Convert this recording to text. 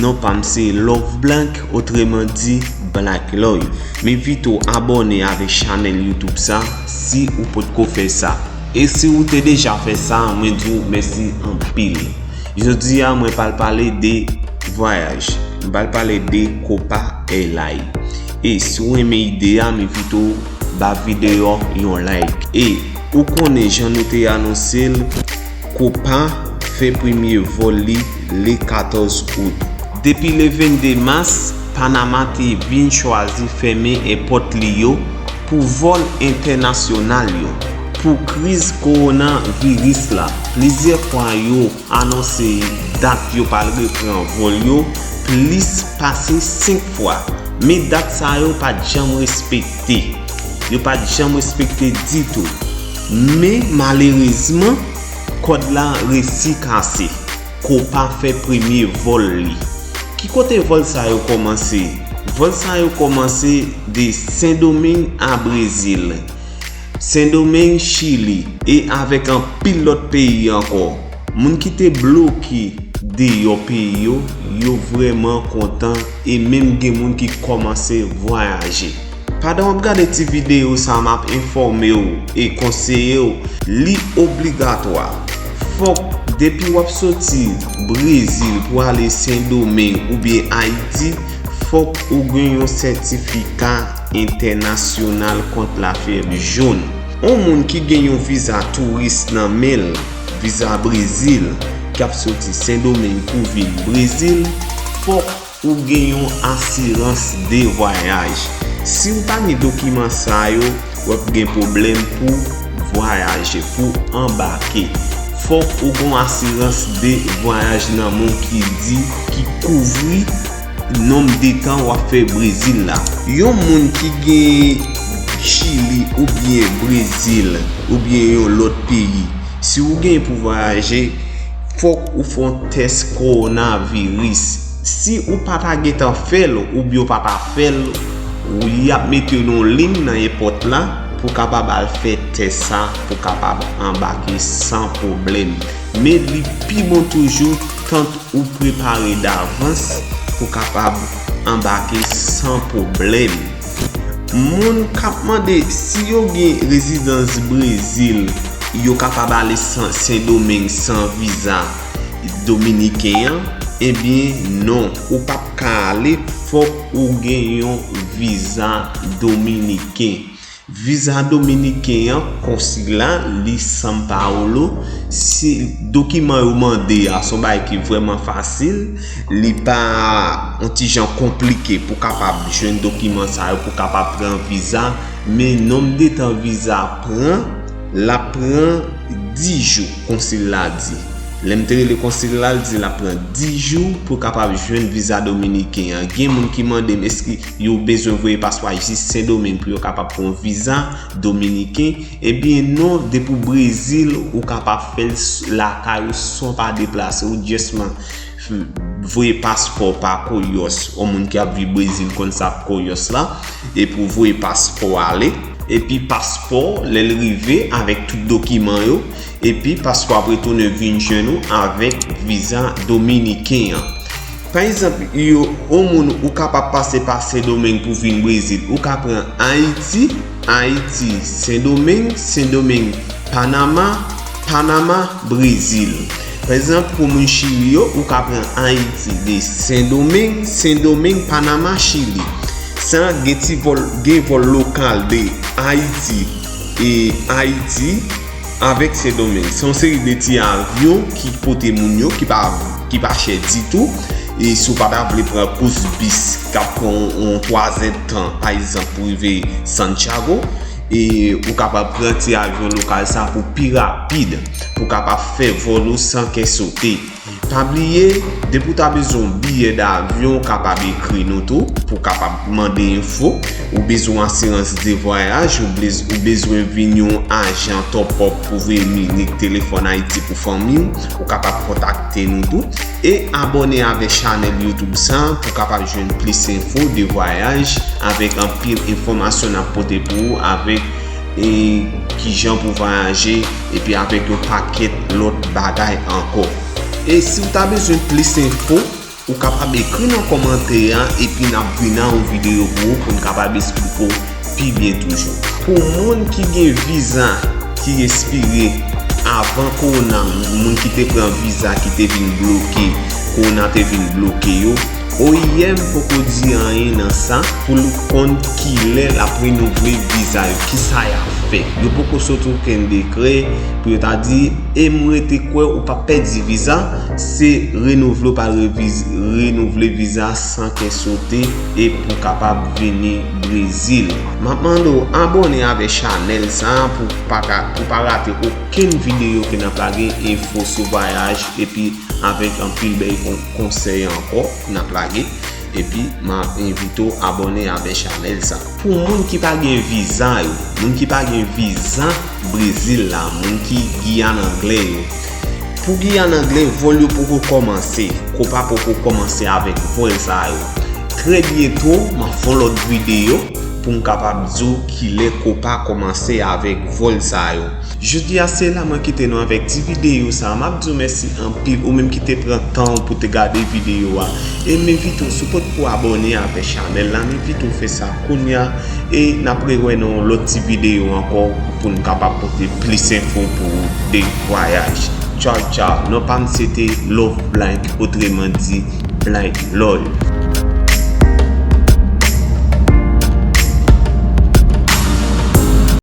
Non pam se loveblank otreman di blackloy m envite w abòne avèk chanèl youtube sa si ou potko fè sa e si ou te deja fè sa mwen di w mèsi anpil jodi a mwen pral pale de vwayaj m pral pale de copa airline e si w renmen ide a m envite w ba videyo yon like e ou konnen jan nou te anonse l. Copa fè premye vòl li le 14 out. Depi le 22 mas, Panama te vin chwazi fèmen èpòt li yo pou vòl entènasyonal yo. Pou kriz kowona viris la, plizyè fwa yo anonse dat yo pral repran vòl yo plis pase 5 fwa. Men dat sa yo pat janm respekte. Yo pat janm respekte ditou. Men malerezman, kòd la resi kase. Copa fè premye vòl li. Ki kote vòl sa yo kòmanse? Vòl sa yo kòmanse de Sendomeng a Brezil. Sendomeng, Chili. E avèk anpil lòt peyi ankò. Moun ki te bloke deyò peyi yo, yo vrèman kontan e menm gen moun ki kòmanse vwayaje. Pandan w ap gade ti videyo sa a m ap enfòme w e konseye w li obligatwa fòk depi w ap soti Brezil pou ale Sendomeng oubyen Ayiti fòk ou gen yon sètifika entènasyonal kont lafyèb jòn. On moun ki gen yon viza touris nan men l, viza Brezil, k ap soti Sendomeng pou vin Brezil fòk Ou gen yon asirans de vwayaj. Si ou pa gen dokiman sa yo, w ap gen pwoblèm pou vwayaje, pou anbake. Fòk ou gen yon asirans de vwayaj nan men w ki di, ki kouvri nonm de tan w ap fè Brezil la. Yon moun ki gen Chili oubyen Brezil oubyen yon lòt peyi, si ou gen pou vwayaje, Fòk ou fè yon tès kowona viris. Si ou pa ta gentan fè l oubyen ou pa ta fè l, y ap mete w nan yon lin nan èpòt la pou w kapab al fè tès sa pou w kapab anbake san pwoblèm. Men li pi bon toujou tant ou prepare davans pou w kapab anbake san pwoblèm. Moun kap mande si yo gen rezidans Brezil yo kapab ale sendomeng san viza dominiken an ebyen non ou pap ka ale fòk ou gen yon viza dominiken viza dominiken an konsila li san paolo dokiman yo mande a son bagay ki vrèman fasil Li pa yon ti jan konplike pou kapab jwenn dokiman sa yo pou kapab pran viza. Men nonm de tan viza pran, l ap pran 10 jou, konsil la di. Lè m te rele konsil la, l di l ap pran 10 jou pou kapab jwenn viza dominiken an. Gen moun ki mande m èske yo bezwen voye paspwa jis Sendomeng pou yo kapab pran yon viza dominiken. Ebyen non, depi w Brezil, ou kapab fè l lakay ou san w pa deplase w. Ou jès man. Voye paspò pa koyòs ou moun ki ap viv brezil konn sa ap koyòs la epi ou voye paspò ale epi paspò lèl rive avèk tout dokiman yo epi paspò ap retounen vin jwenn ou avèk viza dominiken an pa egzanp yo ou moun ou kapab pase pa sendomeng pou vin brezil ou ka pran ayiti ayiti sendomeng sendomeng panama panama brezil Pa egzanp pou moun chili yo ou ka pran ayiti de sendomeng sendomeng panama chili sa gen ti vòl gen vòl lokal de ayiti e ayiti avèk sendomeng son seri de ti avyon ki pote moun yo ki pa ki pa chè ditou e sou pa ta vle pran kous bis kap pran yon 3 zèd tan pa egzanp pou rive santiago E ou kapab pran ti avyon lokal sa pou pi rapid, pou kapab fè vòl ou san kè sote. Pa bliye, depi ou ta bezwen yon biyè davyon, ou kapab ekri nou tou, pou kapab mande enfo. Ou bezwen yon asirans de vwayaj, ou bezwen vin yon ajan tòpòp pou veye minik telefòn Ayiti pou fanmi ou, ou kapab kontakte nou tou. E abone avek chanel youtube sa pou kapab jwenn plis enfo de vwayaj avek anpil enfomasyon nap pote pou ou avek e kijan pou vwayaje epi avek yon paket lot bagay anko. E si ou ta bezwen plis enfo ou kapab ekri nan komante a epi nap vin a yon video pou ou poun kapab esplike ou. pi byen toujou. Pou moun ki gen viza ki espire avan kowona moun ki te pran viza ki te vin bloke kowona te vin bloke yo oim poko di anyen nan sa pou l konn kilè l ap renouvle viza yo kisa y ap fè yo poko soti okenn dekrè pou yo ta di e m rete kwè ou pa pèdi viza se renouvle ou pa renouvle viza san kè sote e pou kapab vini Brezil. Map mande w abone avè chanèl sa pou w paka pou pa rate okenn videyo ke nap lage enfo sou vwayaj epi avèk anpil bèy konsèy ankò nap lage epi map envite w abone avè chanèl sa. Pou moun ki pa gen viza yo moun ki pa gen viza brezil la moun ki giyane anglè yo Pou ki an angle vòl yo poko kòmanse. Kopa poko kòmanse avèk vòl sa yo. Trè byento map fon lòt videyo pou m kapab di w kilè kopa kòmanse avèk vòl sa yo. Jodi a se la mwen kite nou avèk ti videyo sa a. Map di w mèsi anpil ou menm ki te pran tan w pou te gade videyo a. E m envite w si w potko abòne avè chanèl la m envite w fè sa. Kounya e nap re wè nan yon lòt ti video ankò pou n kapab pote plis enfo pou ou de vwayaj. Tchaw tchaw, non pa m se te Loveblanc otreman di Blanc Love.